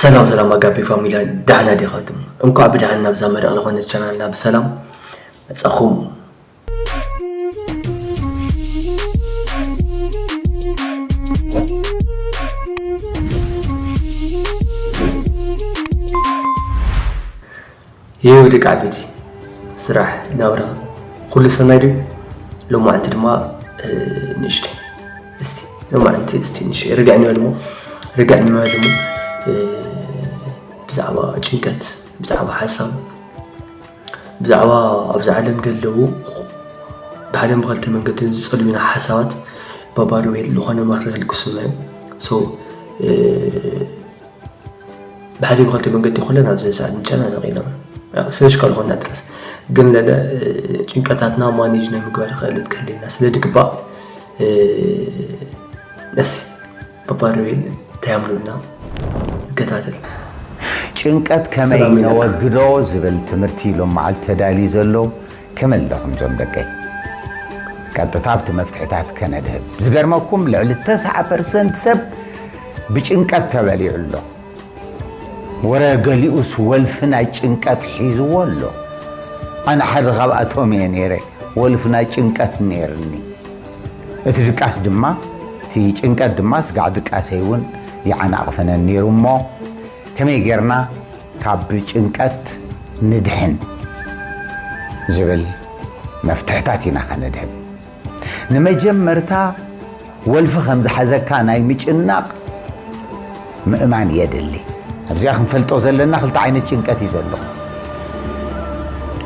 ሰላም ሰላም ኣጋፔ ፋሚላ ዳሕና ዲኻትም እንኳዕ ብዳሕን ናብዛ መሪቕ ዝኾነት ቻናልና ብሰላም መጻኹም። የው ደቂ ዓበይቲ ስራሕ ናብራ ኩሉ ሰናይ ድዩ ሎማዓንቲ ድማ ንእሽተይ እስቲ ሎማዓንቲ እስቲ ንእሽተይ ርግዕ ንበል እሞ ርግዕ ንበል እሞ ብዛዕባ ጭንቀት ብዛዕባ ሓሳብ ብዛዕባ ኣብዚ ዓለም ዘለዉ ብሓደን ብኸልተ መንገድን ዝጸልዩና ሓሳባት ባባዶ ወይ ዝኾነ መኽሪ ህልኩስና እዩ ብሓደ ብኸልተ መንገዲ ኩለን ኣብዚ ሰዓት ንጨናነቕ ኢና ስለሽ ካልኾና ጥራስ ግን ለለ ጭንቀታትና ማኔጅ ናይ ምግባር ክእለት ክህልየና ስለ ድግባእ እስ በባረቤን ተያምሉና ንከታተል ጭንቀት ከመይ ነወግዶ ዝብል ትምህርቲ ሎም መዓልቲ ተዳልዩ ዘሎ ከመይ ኣለኹም ዞም ደቀይ ቀጥታ ኣብቲ መፍትሕታት ከነድህብ ዝገርመኩም ልዕሊ 90 ፐርሰንት ሰብ ብጭንቀት ተበሊዑ ኣሎ ወረ ገሊኡስ ወልፊ ናይ ጭንቀት ሒዝዎ ኣሎ ኣነ ሓደ ካብኣቶም እየ ነይረ ወልፊ ናይ ጭንቀት ነይርኒ እቲ ድቃስ ድማ እቲ ጭንቀት ድማ ስጋዕ ድቃሰይ እውን ይዓናቕፈነን ነይሩ እሞ ከመይ ጌርና ካብ ጭንቀት ንድሕን ዝብል መፍትሕታት ኢና ከነድህብ። ንመጀመርታ ወልፊ ከም ዝሓዘካ ናይ ምጭናቕ ምእማን የድሊ። ኣብዚኣ ክንፈልጦ ዘለና ክልተ ዓይነት ጭንቀት እዩ ዘሎ፣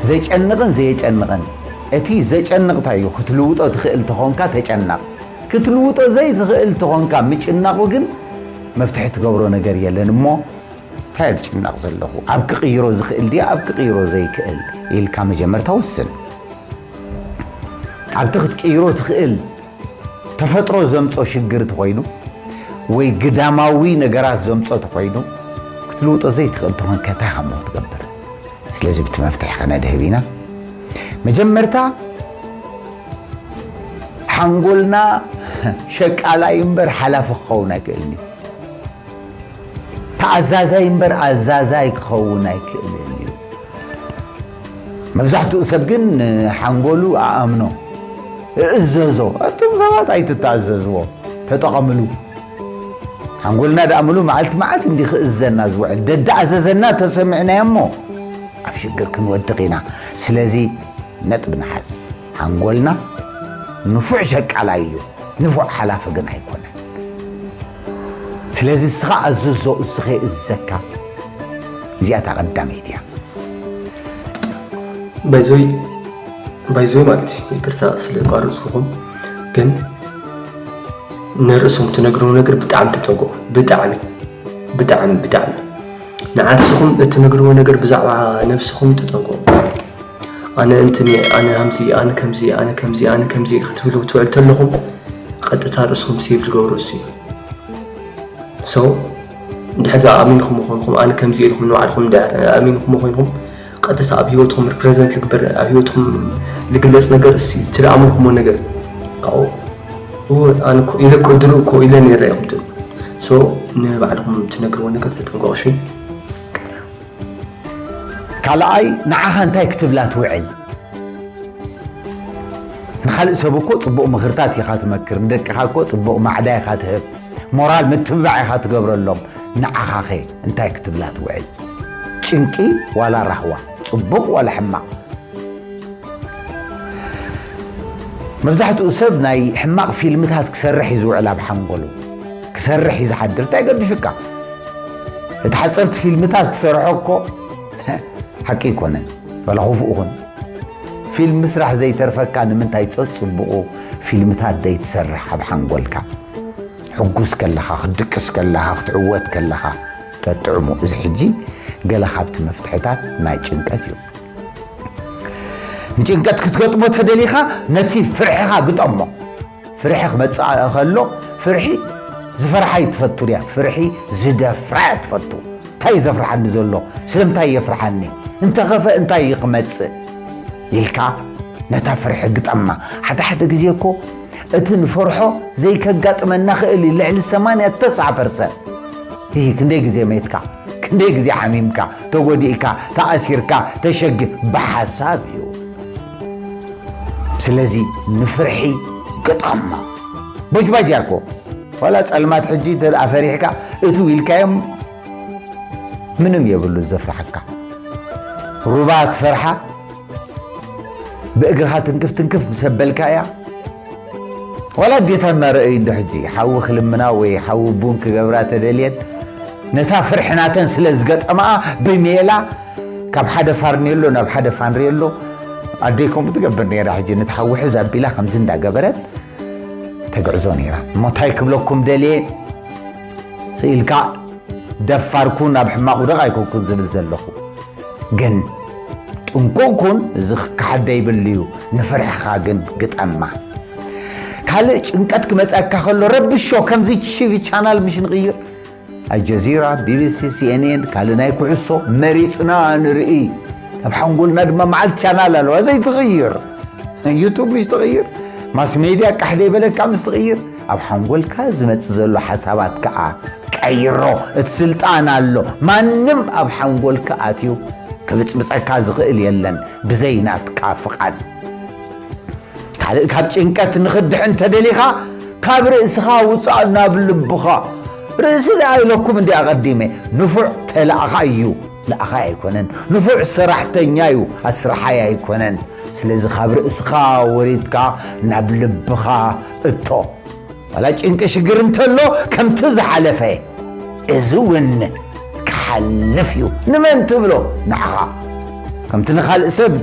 ዘጨንቕን ዘየጨንቕን። እቲ ዘጨንቕ እንታይ እዩ? ክትልውጦ ትኽእል ተኾንካ ተጨናቕ፣ ክትልውጦ ዘይትኽእል ተኾንካ ምጭናቑ ግን መፍትሒ ትገብሮ ነገር የለን እሞ ታይ እየ ዝጭነቕ ዘለኹ ኣብ ክቕይሮ ዝኽእል ድየ ኣብ ክቕይሮ ዘይክእል ኢልካ መጀመርታ ወስን። ኣብቲ ክትቅይሮ ትኽእል ተፈጥሮ ዘምፆ ሽግር ተኾይኑ ወይ ግዳማዊ ነገራት ዘምፆ ተኾይኑ ክትልውጦ ዘይትኽእል ተኾንከ ታይ ሃሞ ክትገብር? ስለዚ ብቲ መፍትሒ ከነድህብ ኢና። መጀመርታ ሓንጎልና ሸቃላይ እምበር ሓላፊ ክኸውን ኣይክእልን እዩ። ተኣዛዛይ እምበር ኣዛዛይ ክኸውን ኣይክእልን እዩ። መብዛሕትኡ ሰብ ግን ንሓንጎሉ ኣኣምኖ እእዘዞ እቶም ሰባት ኣይትተኣዘዝዎ ተጠቐምሉ ሓንጎልና ደኣ ምሉ መዓልቲ መዓልቲ እንዲ ክእዘና ዝውዕል ደዳኣዘዘና ተሰሚዕናዮ እሞ ኣብ ሽግር ክንወድቕ ኢና ስለዚ ነጥቢ ንሓዝ ሓንጎልና ንፉዕ ሸቃላይ እዩ ንፉዕ ሓላፊ ግን ኣይኮነን ስለዚ እስኻ ኣዝዞ እዝኸ እዝዘካ እዚኣ እታ ቀዳመይቲ እያ። ባይዞይ ባይዞይ ማለት እዩ ይቅርታ ስለ ቋረፅኩኹም ግን ንርእሶም ትነግርዎ ነገር ብጣዕሚ ተጠንቀቑ ብጣዕሚ ብጣዕሚ ብጣዕሚ ንዓርስኹም እትነግርዎ ነገር ብዛዕባ ነብስኹም ተጠንቀቑ ኣነ እንትን እየ፣ ኣነ ኣምዚ፣ ኣነ ከምዚ፣ ኣነ ከምዚ፣ ኣነ ከምዚ ክትብሉ ትውዕሉ ተለኹም ቐጥታ ርእስኹም ሴቭ ዝገብሮ እሱ እዩ። ሶ እንድሕር ድኣ ኣሚንኹም ኾንኩም ኣነ ከምዚ ኢልኩም ንባዕልኹም እንድሕር ኣሚንኹም ኾይንኩም ቐጥታ ኣብ ህይወትኹም ሪፕሬዘንት ልግበር ኣብ ህይወትኹም ልግለጽ ነገር እሱ እዩ። እቲ ድኣ ኣምልኩሞ ነገር ካብኡ እወ ኣነ እኮ ኢለ እኮ ድሮ እኮ ኢለ ነይረ ኢኹም ትብሉ ሶ ንባዕልኹም ትነግርዎ ነገር ተጠንቀቑ እሺ። ካልኣይ ንዓኻ እንታይ ክትብላ ትውዕል? ንኻልእ ሰብ እኮ ጽቡቕ ምኽርታት ኢኻ ትመክር፣ ንደቅኻ እኮ ጽቡቕ ማዕዳ ኢኻ ትህብ፣ ሞራል ምትብባዕ ኢኻ ትገብረሎም፣ ንዓኻኸ እንታይ ክትብላ ትውዕል? ጭንቂ ዋላ ራህዋ፣ ጽቡቕ ዋላ ሕማቕ? መብዛሕትኡ ሰብ ናይ ሕማቕ ፊልምታት ክሰርሕ እዩ ዝውዕል ኣብ ሓንጎሉ። ክሰርሕ እዩ ዝሓድር እንታይ ገድሹካ እቲ ሓፀርቲ ፊልምታት ትሰርሖ እኮ ሓቂ ኣይኮነን ዋላ ክፉእ ኹን ፊልም ምስራሕ ዘይተርፈካ ንምንታይ ፀፅቡቑ ፊልምታት ዘይትሰርሕ ኣብ ሓንጎልካ ሕጉስ ከለኻ ክትድቅስ ከለኻ ክትዕወት ከለኻ ተጥዕሙ እዚ ሕጂ ገለ ካብቲ መፍትሕታት ናይ ጭንቀት እዩ ንጭንቀት ክትገጥሞ ተደሊኻ ነቲ ፍርሕኻ ግጠሞ ፍርሒ ክመጽኣ ከሎ ፍርሒ ዝፈርሓ ይትፈቱ ድያ ፍርሒ ዝደፍራ እያ ትፈቱ እንታይ ዘፍርሓኒ ዘሎ ስለምንታይ የፍርሓኒ እንተኸፈ እንታይ እዩ ክመጽእ ኢልካ ነታ ፍርሒ ግጠማ ሓደ ሓደ ግዜ እኮ እቲ ንፈርሖ ዘይከጋጥመና ክእል እዩ ልዕሊ 89 ፐርሰንት ይህ ክንደይ ግዜ ሜትካ ክንደይ ግዜ ሓሚምካ ተጎዲእካ ተኣሲርካ ተሸግ ብሓሳብ እዩ ስለዚ ንፍርሒ ገጣማ ቦጅባጅ እያ እኮ ዋላ ፀልማት ሕጂ እንተ ፈሪሕካ እቱ ኢልካዮም ምንም የብሉ ዘፍርሓካ ሩባ ትፈርሓ ብእግርኻ ትንክፍ ትንክፍ ሰበልካ እያ ዋላ ዴታ እናረአዩ እንዶ ሕጂ ሓዊ ክልምና ወይ ሓዊ ቡን ክገብራ ተደልየን ነታ ፍርሒ ናተን ስለ ዝገጠማኣ ብሜላ ካብ ሓደ ፋርኔሎ ናብ ሓደ ፋንሬሎ ኣደይ ከምኡ ትገብር ነይራ ሕጂ ነቲ ሓዊ ሕዝ ኣቢላ ከምዚ እንዳገበረት ተግዕዞ ነይራ እሞ እንታይ ክብለኩም ደልየ ኢልካ ደፋር ኩን ኣብ ሕማቕ ውደቕ ኣይኮንኩን ዝብል ዘለኹ ግን ጥንቁቕ ኩን እዚ ክከሓደ ይብሉ እዩ ንፍርሕኻ ግን ግጠማ ካልእ ጭንቀት ክመፀካ ከሎ ረብሾ ከምዚ ሽቪ ቻናል ምሽ ንቕይር ኣልጀዚራ፣ ቢቢሲ፣ ሲኤንኤን ካልእ ናይ ኩዕሶ መሪጽና ንርኢ ኣብ ሓንጎልና ድማ መዓልቲ ቻናል ኣለዋ ዘይትቕይር ዩቱብ ምስ ትቕይር ማስ ሜድያ ቃሕ ዘይበለካ ምስ ትቕይር ኣብ ሓንጎልካ ዝመጽእ ዘሎ ሓሳባት ከዓ ቀይሮ እቲ ስልጣን ኣሎ ማንም ኣብ ሓንጎልካ ኣትዩ ክብጽብጸካ ዝኽእል የለን ብዘይ ናትካ ፍቓድ ካልእ ካብ ጭንቀት ንኽድሕን እንተደሊኻ ካብ ርእስኻ ውጻእ ናብ ልብኻ ርእሲ ደኣ ኢለኩም እንዲ ኣቐዲመ ንፉዕ ተላእኻ እዩ ለኣኻይ ኣይኮነን ንፉዕ ሰራሕተኛ እዩ ኣስራሓይ ኣይኮነን ስለዚ ካብ ርእስኻ ወሪድካ ናብ ልብኻ እቶ ዋላ ጭንቂ ሽግር እንተሎ ከምቲ ዝሓለፈ እዚ ውን ክሓልፍ እዩ ንመን ትብሎ ንዓኻ ከምቲ ንኻልእ ሰብ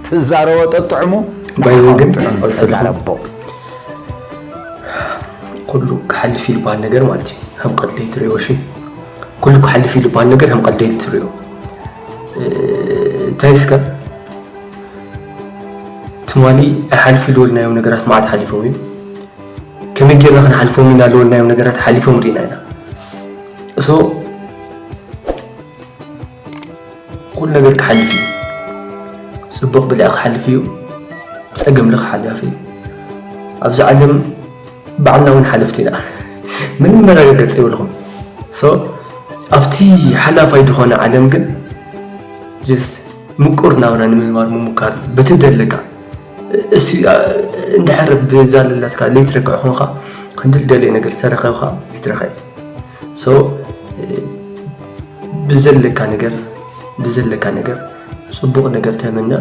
ትዛረቦ ጠጥዕሙ ባይዘው ግን ጥዑም ኣውሰድኩም። ተዛረቦ ኩሉ ክሓልፍ እዩ ዝበሃል ነገር ማለት እዩ ከም ቀልደይ ትሪኦ ሽ ኩሉ ክሓልፍ እዩ ዝበሃል ነገር ከም ቀልደይ ትሪኦ እ፣ እንታይ እስከ ትማሊ ኣይሓልፍ ኢልወልናዮም ነገራት መዓት ሓሊፎም እዩ ከመይ ጌርና ክንሓልፎም ኢና ለወልናዮም ነገራት ሓሊፎም ርኢና ኢና እሶ ኩሉ ነገር ክሓልፍ እዩ ፅቡቕ ብልዕ ክሓልፍ እዩ ፀገም ልክሓልፍ እዩ ኣብዚ ዓለም ባዕልና እውን ሓለፍቲ ኢና ምንም መረጋገፂ የብልኹም ሶ ኣብቲ ሓላፋይ ዝኾነ ዓለም ግን ጀስት ምቁር ናብራ ንምንባር ምሙካር በቲ ደለካ እስቲ እንድሕር ብዛ ለላትካ ለይቲ ርክዕ ኮንካ ክንዲ ልደልዮ ነገር ተረከብካ ይትረከ ሶ ብዘለካ ነገር ብዘለካ ነገር ፅቡቕ ነገር ተመነ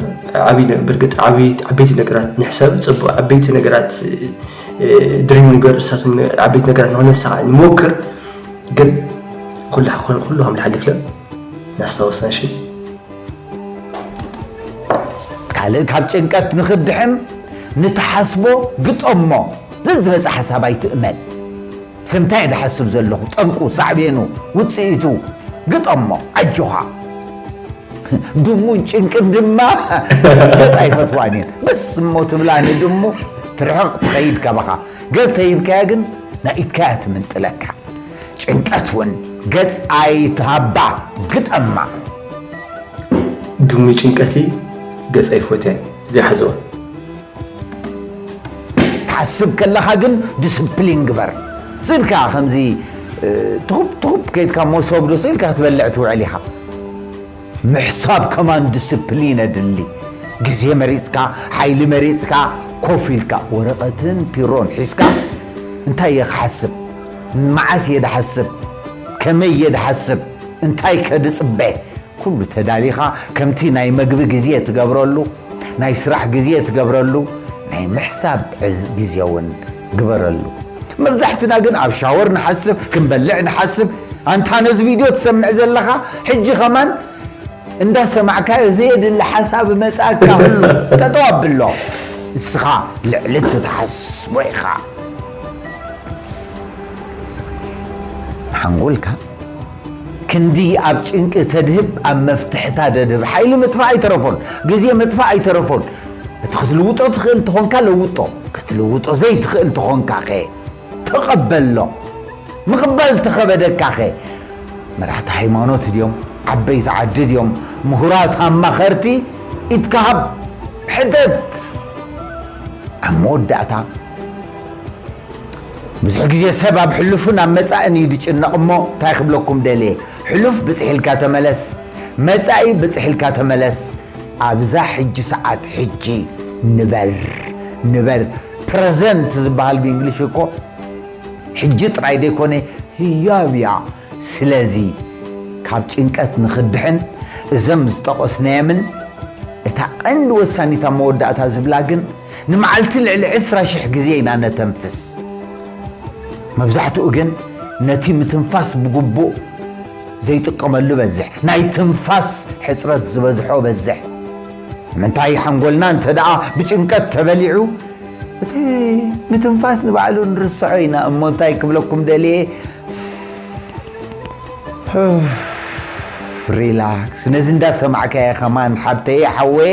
ብርግፅ ዓበይቲ ነገራት ንሕሰብ ፅቡቕ ዓበይቲ ነገራት ድሪም ንገር እሳቶም ዓበይቲ ነገራት ንክነሳዕ ንሞክር ግን ኩሉ ኩሉ ከም ዝሓልፍለ ናስታወስና ሽ ካልእ ካብ ጭንቀት ንኽድሕን ንትሓስቦ ግጠሞ ዘዝበፀ ሓሳብ ኣይትእመን ስምታይ ድሓስብ ዘለኹ ጠንቁ ሳዕቤኑ ውፅኢቱ ግጠሞ ኣጆኻ ድሙን ጭንቅን ድማ ገፅ ኣይፈትዋን እየን ብስ እሞ ትብላ ንድሙ ትርሕቕ ትኸይድ ካባኻ ገፅ ተሂብካያ ግን ናይ ኢድካ እያ ትምንጥለካ ጭንቀት እውን ገፅ ኣይትሃባ ግጠማ ዱሚ ጭንቀቲ ገፀ ይፎትያን እዚኣ ሓዘዋ ትሓስብ ከለኻ ግን ዲስፕሊን ግበር ስኢልካ ከምዚ ትኹብ ትኹብ ከይድካ መሶብ ዶ ስኢልካ ክትበልዕ ትውዕል ኢኻ ምሕሳብ ከማን ዲስፕሊን ኣድሊ ግዜ መሪፅካ ሓይሊ መሪፅካ ኮፍ ኢልካ ወረቐትን ፒሮን ሒዝካ እንታይ እየ ክሓስብ መዓስ እየ ድሓስብ ከመይ እየ ድሓስብ እንታይከ ድጽበ? ኩሉ ተዳሊኻ ከምቲ ናይ መግቢ ግዜ ትገብረሉ፣ ናይ ስራሕ ግዜ ትገብረሉ፣ ናይ ምሕሳብ ግዜውን ግበረሉ። መብዛሕትና ግን ኣብ ሻወር ንሓስብ፣ ክንበልዕ ንሓስብ። ኣንታ ነዚ ቪድዮ ትሰምዕ ዘለኻ ሕጂ ከማን እንዳሰማዕካዮ ዘየድሊ ሓሳብ እመጽኣካ ህሉ ጠጠው ኣብሎ። ንስኻ ልዕሊ እቲ ትሓስቦ ኢኻ። ሓንጎልካ ክንዲ ኣብ ጭንቂ ተድህብ ኣብ መፍትሕታ ደድህብ። ሓይሊ ምጥፋእ ኣይተረፎን፣ ግዜ ምጥፋእ ኣይተረፎን። እቲ ክትልውጦ ትኽእል ተኾንካ ለውጦ፣ ክትልውጦ ዘይትኽእል ተኾንካኸ ተቐበሎ። ምቕባል ተኸበደካኸ መራሕቲ ሃይማኖት ድዮም፣ ዓበይቲ ዓዲ ድዮም፣ ምሁራት ኣማኸርቲ ኢድካ ሃብ፣ ሕተት። ኣብ መወዳእታ ብዙሕ ግዜ ሰብ ኣብ ሕሉፍን ኣብ መጻእን እዩ ዝጭነቕ እሞ እንታይ ክብለኩም ደልየ ሕሉፍ ብጽሕ ኢልካ ተመለስ መጻኢ ብጽሕ ኢልካ ተመለስ ኣብዛ ሕጂ ሰዓት ሕጂ ንበር ንበር ፕረዘንት ዝበሃል ብእንግሊሽ እኮ ሕጂ ጥራይ ዘይኮነ ህያብ እያ ስለዚ ካብ ጭንቀት ንኽድሕን እዘም ዝጠቐስናየምን እታ ቀንዲ ወሳኒት ኣብ መወዳእታ ዝብላ ግን ንመዓልቲ ልዕሊ ዕስራ ሽሕ ግዜ ኢና እነተንፍስ። መብዛሕትኡ ግን ነቲ ምትንፋስ ብግቡእ ዘይጥቀመሉ እበዝሕ። ናይ ትንፋስ ሕጽረት ዝበዝሖ እበዝሕ። ንምንታይ? ሓንጎልና እንተድኣ ብጭንቀት ተበሊዑ እቲ ምትንፋስ ንባዕሉ ንርስዖ ኢና እሞ እንታይ ክብለኩም ደልየ ሪላክስ ነዚ እንዳሰማዕካየ ከማን ሓብተየ ሓወየ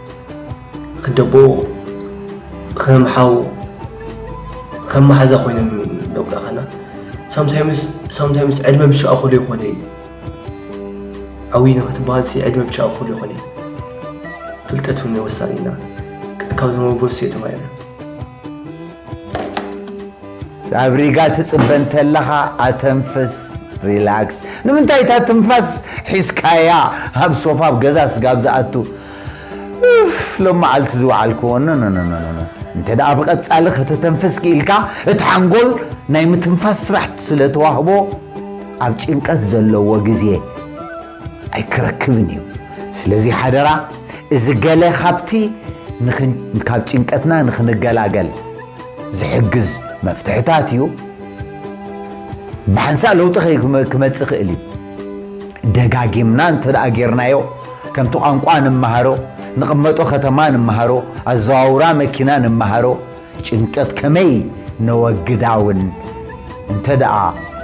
ክደቦ ከም ሓው ከም ማሓዛ ኮይኖም ደቁራኸና ሳምታይምስ ሳምታይምስ ዕድመ ብሻኡ ክሉ ይኾነ እዩ ዓብዪ ንክትበሃል ሲ ዕድመ ብሻኡ ክሉ ይኾነ እዩ ፍልጠት እውን ወሳኒና ካብ ዝመበሱ የተማይና ኣብ ሪጋ ትፅበ እንተለኻ ኣተንፍስ ሪላክስ ንምንታይ እታ ትንፋስ ሒዝካያ ኣብ ሶፋ ኣብ ገዛ ስጋብ ዝኣቱ ኡፍ ሎም መዓልቲ ዝወዓልክዎ ኖኖኖኖኖ እንተ ደኣ ብቐጻሊ ከተተንፍስ ክኢልካ እቲ ሓንጎል ናይ ምትንፋስ ስራሕ ስለ ተዋህቦ ኣብ ጭንቀት ዘለዎ ግዜ ኣይክረክብን እዩ ስለዚ ሓደራ እዚ ገለ ካብቲ ካብ ጭንቀትና ንክንገላገል ዝሕግዝ መፍትሕታት እዩ ብሓንሳእ ለውጢ ክመፅእ ክእል እዩ ደጋጊምና እንተ ጌርናዮ ከምቲ ቋንቋ ንመሃሮ፣ ንቕመጦ ከተማ ንመሃሮ፣ ኣዘዋውራ መኪና ንመሃሮ ጭንቀት ከመይ ነወግዳ እውን እንተ ደኣ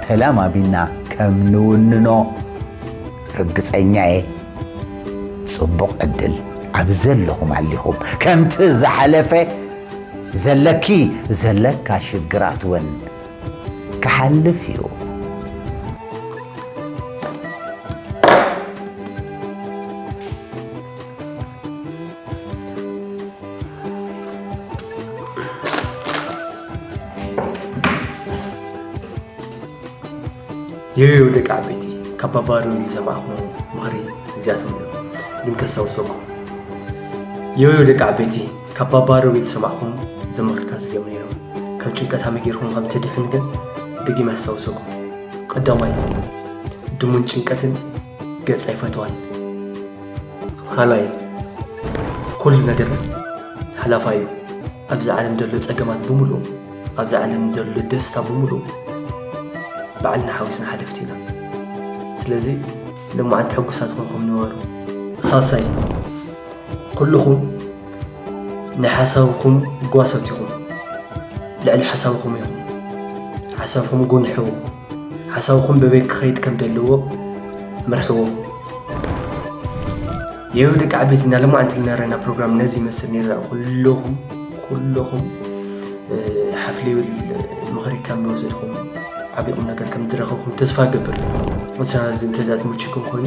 ተለማሚድና ከም ንውንኖ ርግጸኛ እየ። ጽቡቕ ዕድል ኣብ ዘለኹም ኣሊኹም ከምቲ ዝሓለፈ ዘለኪ ዘለካ ሽግራት እውን ክሓልፍ እዩ። የዮ ደቂ ዓበይቲ ካብ ባባዶ ዝሰማዕኹሞ ምኽሪ እዚኣቶም እዮም ግን ከስታውሰኩም የዮ ደቂ ዓበይቲ ካብ ባባ ሮቢ ዝሰማዕኩም ዝማርታት እዚኦም ነይሮም ካብ ጭንቀት ሃመይ ጌርኩም ከም ትድሕን ግን ደጊመ ኣስታውሰኩም ቀዳማይ ድሙን ጭንቀትን ገጽ ኣይፈተዋን ካልኣይ ኩሉ ነገር ሓላፋይ እዩ ኣብዚ ዓለም ዘሎ ጸገማት ብምሉእ ኣብዚ ዓለም ዘሎ ደስታ ብምሉእ ባዕልና ሓዊስና ሓለፍቲ ኢና ስለዚ ልማዓንቲ ሕጉሳት ኮንኩም ንበሩ ሳልሳይ ኩሉኹም ናይ ሓሳብኹም ጓሶት ኢኹም። ልዕሊ ሓሳብኹም ኢኹም። ሓሳብኹም ጉንሕዎ። ሓሳብኹም በበይ ክኸይድ ከም ዘለዎ ምርሕዎ። ይኸው ደቂ ዓበይቲ እና ለማ ኣንቲ ልነረና ፕሮግራም ነዚ ይመስል ነይሩ ኩለኹም ኩለኹም ሓፍሊ ይብል ምኽሪ ከም ዝወሰድኩም ዓቢ ቁም ነገር ከም ዝረኸብኩም ተስፋ ገብር። ምስና እዚ እንተዛ ትምችኩም ኮይኑ